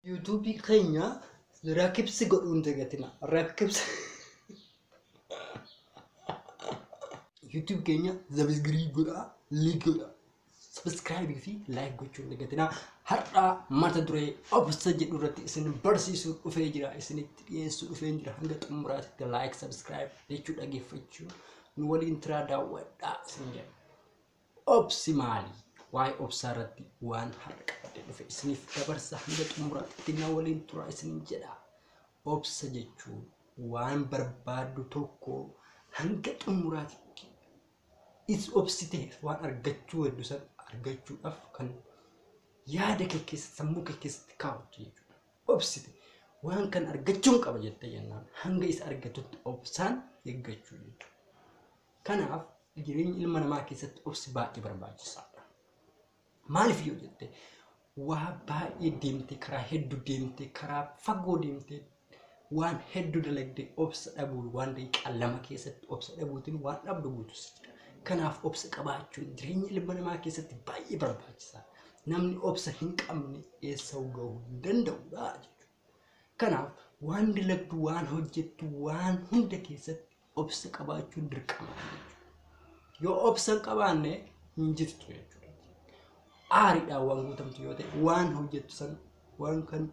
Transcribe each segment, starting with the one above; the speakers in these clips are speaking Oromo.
YouTube keenya rakibsi godhuun dagatina. Rakibsi. YouTube keenya zabisgirii godhaa, liik godhaa. Subscribe fi like gochuun dagatina. Har'aa mata duree obsa jedhu irratti isin barsiisuu dhufee jira. Isinitti dhiyeessuu dhufee jira. Hanga xumuraatti like, subscribe jechuu dhageeffachuu nu waliin tiraa daawwadhaa isin jedha. Obsi maali? Waa'ee obsaa irratti waan har'a qabadhe dhufe isiniif dabarsa hanga xumuraatti na waliin tura isiniin jedha. Obsa jechuun waan barbaaddu tokko hanga xumuraatti is obsiteef waan argachuu heddu san argachuudhaaf kan yaada kee keessa sammuu kee keessatti kaawwattu jechuudha. Obsite waan kan argachuun qaba jettee jennaan hanga isa argatutti obsaan eeggachuu jechuudha. Kanaaf jireenya ilma namaa keessatti obsi baay'ee barbaachisaadha. Maaliif yoo jette waa baay'ee deemte karaa hedduu deemte karaa fagoo deemte waan hedduu dalagde obsa dhabuu waan daqiiqaa lama keessatti obsa dhabuutiin waan dhabdu guutus jira. Kanaaf obsa qabaachuun jireenya ilma namaa keessatti baay'ee barbaachisaadha. Namni obsa hin qabne eessa gahuu hin danda'udha jechuudha. Kanaaf waan dalagdu, waan hojjettu, waan hunda keessatti obsa qabaachuun dirqama jechuudha. Yoo obsa hin qabaanne hin jirtu jechuudha. Aariidhaan waan guutamtu yoo ta'e, waan hojjettu san waan kan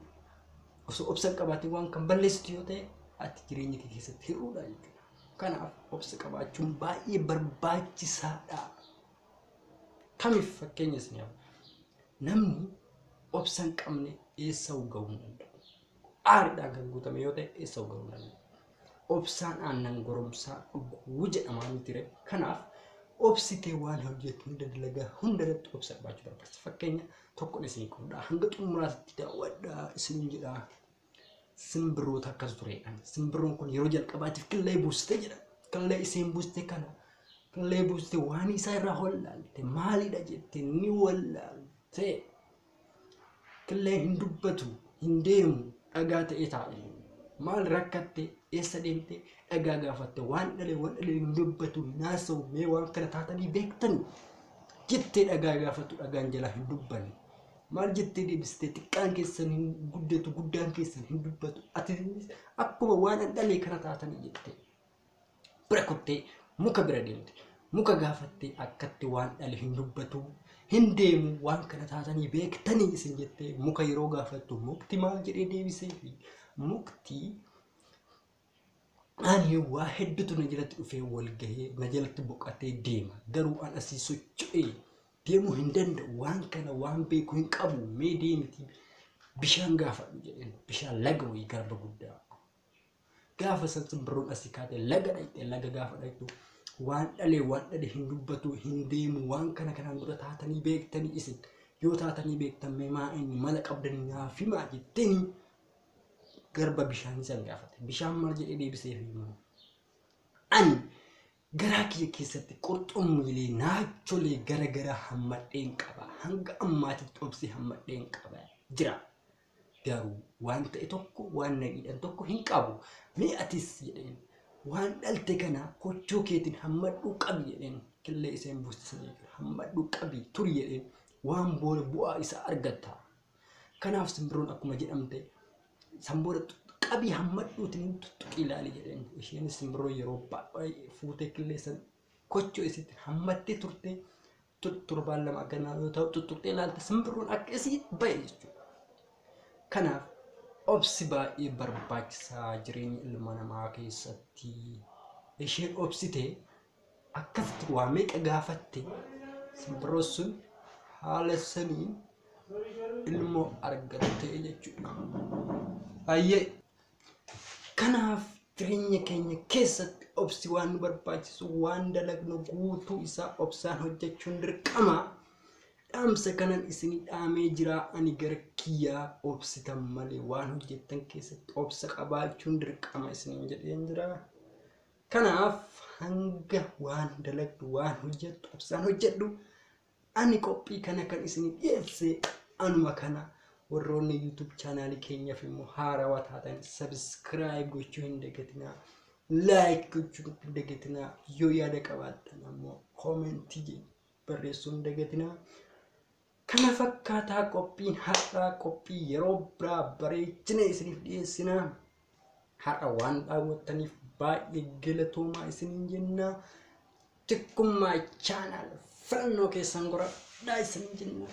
osoo obsa hin qabaatiin waan kan balleessitu yoo ta'e ati jireenya kee keessatti hir'uudha jechuudha. Kanaaf obsa qabaachuun baay'ee barbaachisaadha. Kamiif fakkeenya isin haa Namni obsa hin qabne eessa ga'uu hin danda'u. Aariidhaan kan guutame yoo ta'e eessa ga'uu hin danda'u. Obsaan aannan goromsaa dhuguu jedhamaa miti ree. Kanaaf obsitee waan hojjettu hunda dalagaa hunda irratti obsa qabaachuu barbaachisa. Fakkeenya tokkoon isin qoodaa hanga xumuraatti daawwadhaa isin jedhaa. Simbirroota akkas ture jedhan. Simbirroon kun yeroo jalqabaatiif killee buuste jedhan. Killee isheen buuste kana killee buuste waan isaa irraa wallaalte maalidha jette ni wallaalte. Killee hin dubbatu hin deemu dhagaa ta'ee taa'e. Maal rakkatte eessa deemte dhagaa gaafatte waan dhalee waan dhalee hin dubbatu hin haasa'u mee waan kana taatanii beektanii jettee dhagaa gaafattu dhagaan jalaa hin dubbanne. Maal jettee deebiste xiqqaan keessan hin guddatu guddaan keessan hin dubbatu atinis akkuma waan an dhalee kana taatanii jette bira kuttee muka bira deemte muka gaafattee akkatti waan dhale hin dubbatu hin deemu waan kana taatanii beektanii isin jettee muka yeroo gaafattu mukti maal jedhee deebiseefi mukti Ani waa hedduutu na jalatti dhufee wal gahee na jalatti boqatee deema. Garuu an asii socho'ee deemuu hin danda'u. Waan kana waan beeku hin qabu. Mee deemiti bishaan gaafadhu jedheen. Bishaan laga wayii garba guddaa. Gaafa san simbirroon asii kaatee laga dhaqxee laga gaafa dhaqxu waan dhalee waan dhale hin dubbatu hin deemu waan kana kanaan dura taatanii beektanii isin yoo taatanii beektan mee maa inni mala qabdanii naaf himaa jetteenii garba bishaanii san gaafate. Bishaan maal jedhee deebiseef immoo ani garaa kiyya keessatti qurxummiilee naacholee gara gara hammadheen qaba. Hanga ammaatitti obsee hammadheen qaba jira. Garuu waan ta'e tokko waan nagiidhan tokko hin qabu. Mee atis jedheen waan dhalte kana kochoo keetiin hammadhuu qabi jedheen killee iseen buusisanii hammadhuu qabi turi jedheen waan booda bu'aa isaa argatta. Kanaaf simbirroon akkuma jedhamte san booda qabii hammadhuutiin tuttuqii ilaali jedheen. Isheen simbirroo yeroo baay'ee fuutee qilleensa kochoo isitti hammattee turte torbaan lama akkanaa yoo ta'u tuttuqxee ilaalte simbirroon akka isii ba'e jechuudha. Kanaaf obsi baay'ee barbaachisaa jireenya ilma namaa keessatti isheen obsitee akkasitti waa meeqa gaafatte simbirroon sun haala saniin ilmoo argattee jechuudha. Hayyee kanaaf jireenya keenya keessatti obsi waan nu barbaachisu waan dalagnu guutuu isaa obsaan hojjechuun dirqama. Dhaamsa kanan isinii dhaamee jira ani gara kiyyaa obsitan malee waan hojjettan keessatti obsa qabaachuun dirqama isiniin jedheen jira. Kanaaf hanga waan dalagdu waan hojjettu obsaan hojjedhu. Ani qophii kana kan isinii dhiyeesse anuma kana. Warroonni YouTube chaanaalii keenyaaf immoo haarawaa taatan subscribe gochuu hin dagatinaa. Like gochuu hin dagatinaa. Yoo yaada qabaattan ammoo koomentii barreessuu hin dagatinaa. Kana fakkaataa qophiin har'aa qophii yeroo biraa bareechinee isiniif dhiyeessinaa. Har'a waan daawwattaniif baay'ee galatoomaa isiniin jennaa. Tikkummaa chaanaal filannoo keessan goradhaa isiniin jennaa.